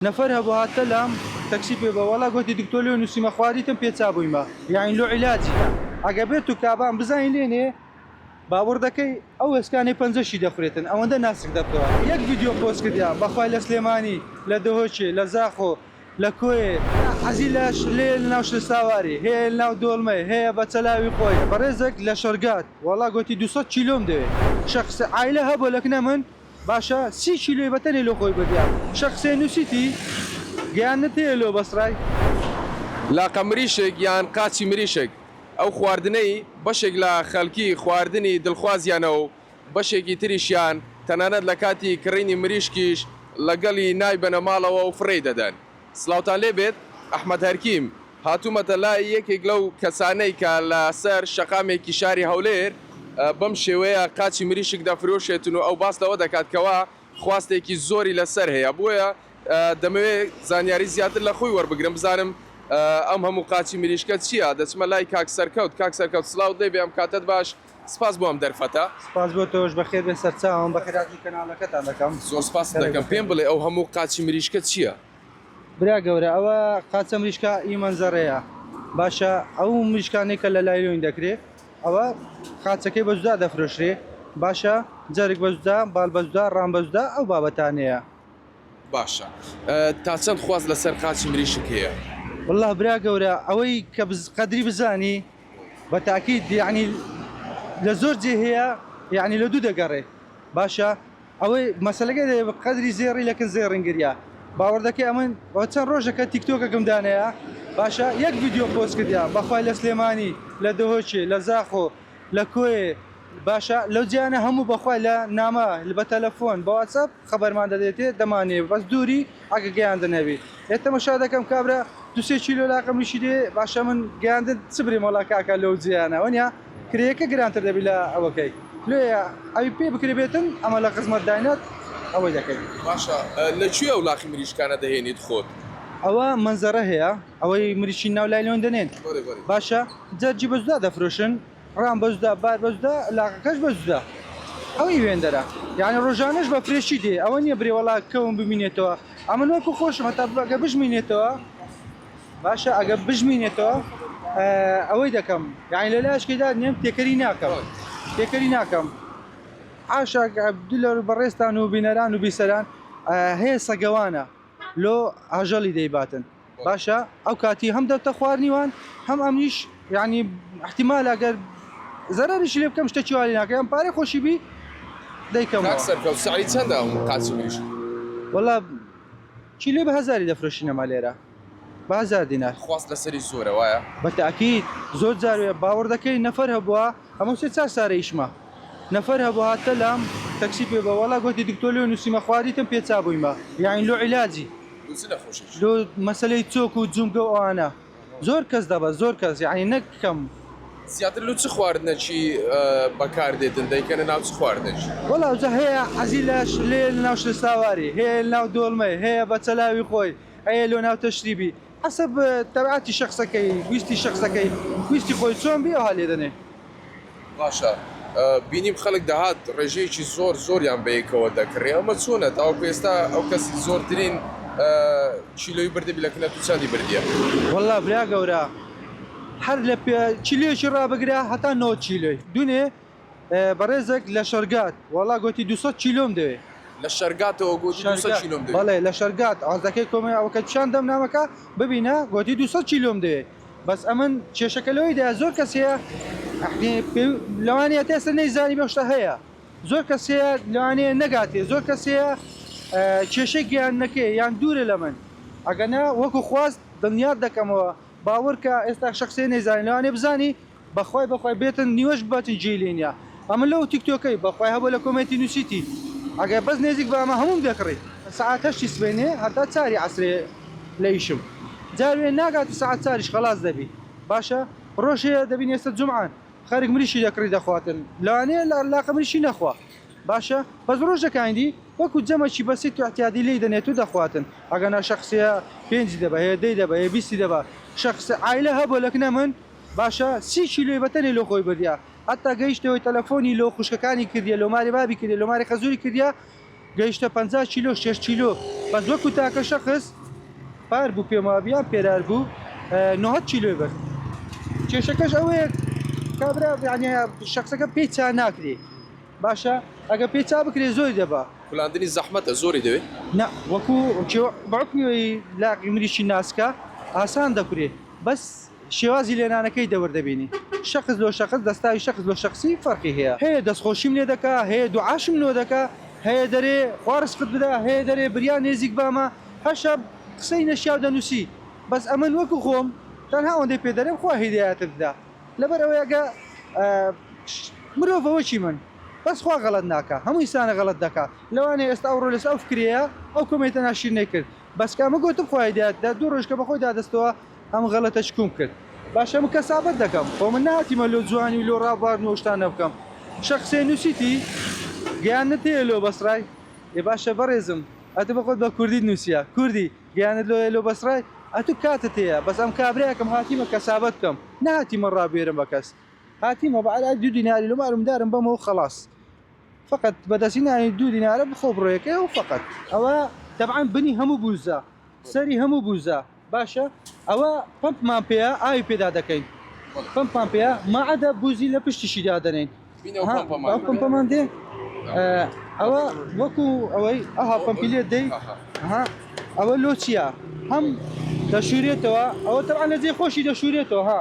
نەفەر هەبووهات تە لام تەکسی پێ بە وەڵا گۆتی دکتۆر لۆ نووسیمە خواریتم پێ چا بوویمە یاین لۆ عیلاجیکە ئەگە بێ تو کابان بزانین لێنێ باوڕ دەکەی ئەو ئێسکانەی پەنجەشی دەخورێتن ئەوەندە ناسک دەبتەوە یەک ڤیدیۆ پۆست کردیە بەخوای لە سلێمانی لە دهۆکێ لە زاخۆ لە کۆیێ حەزی لە شلەیە لە ناو شلساواری هەیە لە ناو دۆڵمەی هەیە بە چەلاوی خۆی بەڕێزەک لە شەرگات وەڵا گۆتی دوو سەد کیلۆم دەوێ شەخس عایلە هەبووە لە کنە من. باشە سی کیلۆی بەتەنێ لۆ خۆی بردیە شە قسەی نوسیتی گەیاندنە پێیە لۆ بەسڕای. لاقە مریشک یان قاچی مریشک، ئەو خواردنەی بەشێک لە خەلکی خواردنی دلخوازیانە و بەشێکی تریشیان تەنانەت لە کاتی کڕینی مریشکیش لەگەڵی نایبەنە ماڵەوە و فڕێی دەدەن. سڵاوتان لێ بێت ئەحمەد هەرکیم، هاتوومەتە لای یەکێک لەو کەسانەی کە لە سەر شەقامێکی شاری هەولێر بەم شێوەیە قاچی مریشک دەفرۆشێتن و ئەو باس لەوە دەکات کەوا خواستێکی زۆری لە سەر هەیە بۆیە دەمەوێ زانیاری زیاتر لە خۆی وەربگرم بزانم ئەم هەموو قاچی مریشکە چیە دەچمە لای کاک سەرکەوت کاک سەرکەوت سڵاوت لێ بێ ئەم کاتەت باش سپاس بۆ ئەم دەرفەتە. سپاس بۆ تۆش، بەخێربێن سەرچاوم، بەخێرهاتنی کەناڵەکەتان دەکەم. زۆر سپاست دەکەم، پێم بڵێ ئەو هەموو قاچی مریشکە چییە؟ برا گەورە ئەوە قاچە مریشکە ی مەنزەرەیە، باشە ئەو مریشکانەی کە لە لایلۆین دەکرێ ئەوە قاچەکەی بە جودا دەفرۆشرێ باشە، جەرگ بە جودا، باڵ بە جودا، ڕام بە جودا ئەو بابەتانەیە. باشە تا چەند خواست لەسەر قاچی مریشک هەیە؟ وەڵا برا گەورە ئەوەی کە قەدری بزانی. بە تاکید یەعنی لە زۆر جێ هەیە یەعنی لە دوو دەگەڕێ باشە ئەوەی مەسەلەکە دەێ بە قەدری زێڕی لەکن زێڕین گریا باوەڕدەکەی ئەمن ئەو چەند ڕۆژەکە تیکتۆکەکەم دانەیە باشە یەک ڤیددیو پۆست کردیا بەخوای لە سلێمانی لە دهۆکێ لە زاخۆ لە کۆێ باشە لەو جیانە هەموو بەخوای لە نامە بە تەلەفۆن بەواتسەپ خەبەرمان دەدەیتێ دەمانەوێ بەس دووری ئەگە گەیاندن هەبی ئێ تەمەشا دەکەم کابرا دوو سێ کیلۆ لاقم نیشی دێ باشە من گەیاندن چ برێم وەڵا کاکە لەو جێیانە وەنیا کرێیەکە گرانتر دەبی لە ئەوەکەی لۆیە ئەوی پێ بکرێبێتن ئەمە لە خزمەت داینات ئەوەی دەکەین. باشە لە کوێ ئەو لاقی مریشکانە دەهێنیت خۆت؟ ئەوە مەنزەرە هەیە ئەوەی مریشکی ناو لایلۆن دەنێن باشە جا جیبەجدا دەفرۆشن. ڕان بە جودا بار بە جودا لاقەکەش بە جودا ئەو ئیوێندەرە یانی ڕۆژانەش بە فرێشی دێ ئەوە نییە برێ وەڵا کەوم بمینێتەوە ئەمە من وەکو خۆشم هەتا بەگە بژمینێتەوە باشە ئەگە بژمینێتەوە ئەوەی دەکەم یانی لە لاشکێدا نێم تێکەری ناکەم تێکەری ناکەم عاشاک عبدلەر بەڕێستان و بینەران و بیسەران هەیە سەگەوانە لۆ ئاژەڵی دەیباتن باشە ئەو کاتی هەم دەبتە خوارنی وان هەم ئەمنیش یعنی احتیمال ئەگەر زەرەریش لێ بکەم شتەکی وا لێ ناکەم یان پارەی خۆشی بی دەیکەمەوە. کاک سەرکەوت سعری چەندە ئەم قاچی مریشک؟ وەڵا کیلۆی بە هەزاری دەفرۆشین ئەمە لێرە بە هەزار دینار. خواست لەسەری زۆرە وایە؟ بە تاکید زۆر جار وێ باوەڕ دەکەی نەفەر هەبووە ئەمەو سێ چار سارە ئیشمە نەفەر هەبوو هاتە لام تەکسی پێ بە وەڵا گۆتی دکتۆر لۆ نووسیمە خواریتم پێ چابوویمە یاین لۆ عیلاجی لۆ مەسەلەی چۆک و جومگە و ئەوانە زۆر کەس دەبەست زۆر کەس یەعنی نەک کەم. زیاتر لۆ چ خواردنەکی بەکار دێتن دەیکەنە ناو چ خواردنەکی؟ وەڵا ئەوجا هەیە حەزی لە لێیە لە ناو شلەساواری هەیە لە ناو دۆڵمەی هەیە بە چەلاوی خۆی ئەیە لۆ ناو تەشریبی حەسەب تەبعاتی شەخسەکەی ویستی شەخسەکەی ویستی خۆی چۆن بی ئەوها لێ دەنێ. باشە بینیم خەلک دەهات رێژەیەکی زۆر زۆریان بەیەکەوە دەکڕی ئەمە چۆنە تاوەکو ئێستا ئەو کەسی زۆرترین کیلۆی بردبی لە کنەت و چەندی بردیە؟ وەڵا برا گەورە هەر لە پێ کیلۆیەکی ڕابگرە هەتا نەوەد کیلۆی دونێ بەڕێزەک لە شەرگات وەڵا گۆتی دوو سەد کیلۆم دەوێ لە شەرگاتەوە گۆتی دوو سەد کیلۆم دەوێ بەڵێ لە شەرگات عەرزەکەی کۆمێ ئەوکە پیشان دەم نامەکە ببینە گۆتی دوو سەد کیلۆم دەوێ بەس ئەمن کێشەکە لەوەیدایە زۆر کەس هەیە یەعنی پێوی لەوانەیە هەتا ئێستا نەیزانی بەم شتە هەیە زۆر کەس هەیە لەوانەیە نەگاتێ زۆر کەس هەیە کێشەی گەیاندنەکەی یان دوورە لە من ئەگەنا وەکو خواست دڵنیات دەکەمەوە باوەڕکە ئێستا شەخسێ نەیزانی لەوانەیە بزانی بەخوای بەخوای بێتن نیوەش بەتن جێی لێ نیە ئەمە لەو تیک تۆکەی بەخوای هەبوو لە کۆمێنتی نوسیتی ئەگەر بەس نێزیک بە ئەمە هەمووم دەکڕی. سەعات هەشتی سبەینێ هەتا چاری عەسرێ لە ئیشم جا وێ ناگات و سەعات چاریش خەلاس دەبی باشە ڕۆژ هەیە دەبین ئێستا جومعەن خەرک مریشکی دەکڕی دەخواتن لەوانەیە لە لاقە مریشکی نەخوا باشە بەس ڕۆژەکانی دی وەکو جەمەکی بەسیت و اعتیادی لێی دەنێت و دەخواتن ئەگەنا شەخسیە پێنجی دەبە هەیە دەی دەبە هەیە بیستی دەبە شەخس عایلە هەبوو لەکنە من باشە سی کیلۆی بەتەنێ لۆ خۆی بردیە هەتا گەیشتە هۆی تەلەفۆنی لۆ خوشکەکانی کردیە لۆ ماری بابی کردیە لۆ ماری خەزوری کردیە گەیشتە پەنجا کیلۆ شەش کیلۆ بەس وەکو تاکە شەخس پار بوو پێم وابە یان پێرار بوو نۆهەد کیلۆی برد کێشەکەش ئەوەیە کابرا یعنی شخصەکە پێی چا ناکرێ باشە ئەگە پێی چا بکرێ زۆری دەبا کولاندنی زەحمەتە زۆری دەوێت نا وەکو کێوە بەعکوی لاقی مریشی ناسکە ئاسان دەکرێ بەس شێوازی لێنانەکەی دەور دەبینی شەخس لۆ شەخس دەستاوی شەخس لۆ شەخسی فەرقی هەیە هەیە دەستخۆشیم لێ دەکا هەیە دوعاشم لۆ دەکا هەیە دەرێ خوا رزقت بدا هەیە دەرێ بریا نێزیک بامە هەر شەب قسەی نەشیاو دەنووسی بەس ئەمن وەکو خۆم تەنها ئەوەندەی پێ دەرێم خوا هیدایەتت بدا لەبەر ئەوەی ئەگە مرۆڤە وەکی من بەس خوا غەڵەت ناکا هەموو ئینسانە غەڵەت دەکا لەوانەیە ئێستا ئەوڕۆ لەسەر ئەو فکرەیە ئەو کۆمێنتە ناشیرنەی کرد بەس کە ئەمە گۆتم خۆی دەات دە دوو ڕۆژکە بەخۆی دادەستەوە ئەم غەڵەتە چکوم کرد باشە من کەسابەت دەکەم خۆ من ناتیمە لۆ جوانی و لۆ ڕابواردن و شتانە بکەم شە قسەی نووسیتی گەیاندنت هەیە لۆ بەسڕای ئێ باشە بەڕێزم ئەتو بەخۆت بە کوردیت نووسیە کوردی گەیاندنت لۆیە لۆ بەسڕای ئەتو کاتت هەیە بەس ئەم کابرایە کەم هاتیمە کەسابەت بکەم نەهاتیمە ڕابوێرم بە کەس هاتیمە بە عەلەل دوو دیناری لۆ مارومدارم بەمەوە خەڵاس فەقەت بە دەستی نانی دوو دینارە بخۆ بڕۆیەکەی و فەقەت. ئەوە تەبعەن بنی هەموو بووزە سەری هەموو بووزە باشە ئەوە پەمپمان پێیە ئاوی پێدا دەکەین پەمپمان پێیە مەعەدە بووزی لە پشتیشی دادەنێین ئەو پەمپەمان دێ ئەوە وەکو ئەوەی ئەها پەمپی لێ دەی ئەوە لۆ چییە هەم دەشورێتەوە ئەوە تەبعەن لە جێ خۆشی دەشورێتەوە ها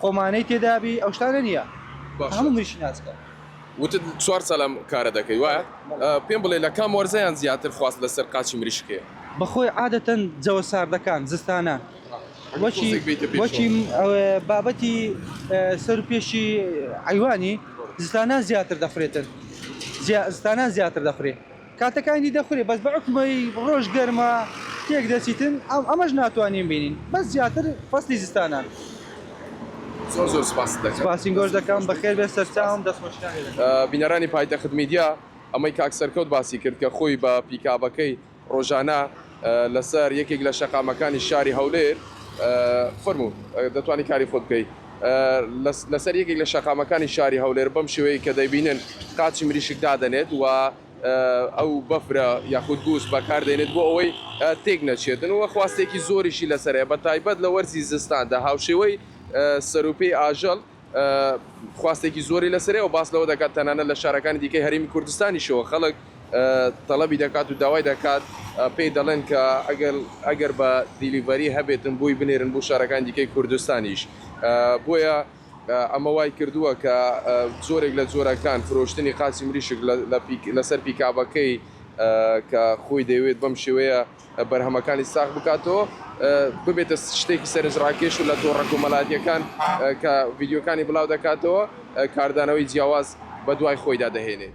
خۆمانەی تێدابی ئەو شتانە نیە کە هەموو منیشی ناس کەم. وتت چوار سالە ئەم کارە دەکەی وایە؟ پێم بڵێ لە کام وەرزەیان زیاتر خواست لە سەر قاچی مریشک هەیە؟ بەخۆی عادەتەن جەوە ساردەکان زستانان وەکی وەکی بابەتی سەر و پێشی حەیوانی زستانان زیاتر دەفرێتن زیا زستانان زیاتر دەفرێ. کاتەکانی دەخورێ بەس بە عوکمەی ڕۆژ گەرمە تێک دەچیتن ئەم ئەمەش ناتوانین بینین بەس زیاتر فەسلی زستانان. زۆر زۆر سپاست دەکەم. سپاسی گۆش دەکەم بەخێر بێ سەرچاوم دەست خۆشی نان لێدەکەم. بینەرانی پایتەخت میدیا ئەمەی کاک سەرکەوت باسی کرد کە خۆی بە پیکابەکەی ڕۆژانە لەسەر یەکێک لە شەقامەکانی شاری هەولێر فەرموو دەتوانی کاری خۆت بکەی لەسەر یەکێک لە شەقامەکانی شاری هەولێر بەم شێوەیە کە دەیبینن قاچی مریشک دادەنێت و ئەو بەفرە یاخود گووس بەکاردێنێت بۆ ئەوەی تێک نەچێتن و خواستێکی زۆریشی لەسەرەیە بە تایبەت لە وەرزی زستاندا هاوشێوەی سەروپی ئاژەڵ خواستێکی زۆری لەسەرەوە باس لەوە دەکات تەنانە لە شارەکانی دیکەی هەرمی کوردستانیشەوە خەڵک تەڵەبی دەکات و داوای دەکات پێی دەڵێن کە ئەگەر ئەگەر بە دیلیڤەری هەبێتن بۆی بنێرن بۆ شارەکان دیکەی کوردستانیش بۆیە ئەمە وای کردووە کە زۆرێک لە جۆرەکان فرۆشتنی قاچی مریشک لەسەر پیکابەکەی کە خۆی دەوێت بەم شێوەیە بەرهەمەکانی ساغ بکاتەوە ببێتە شتێکی سەرنجڕاکێش و لە تۆڕە کۆمەلاتیەکان کە ڤیدیۆکانی بڵاو دەکاتەوە کاردانەوەی جیاواز بە دوای خۆیدا دەهێنێت.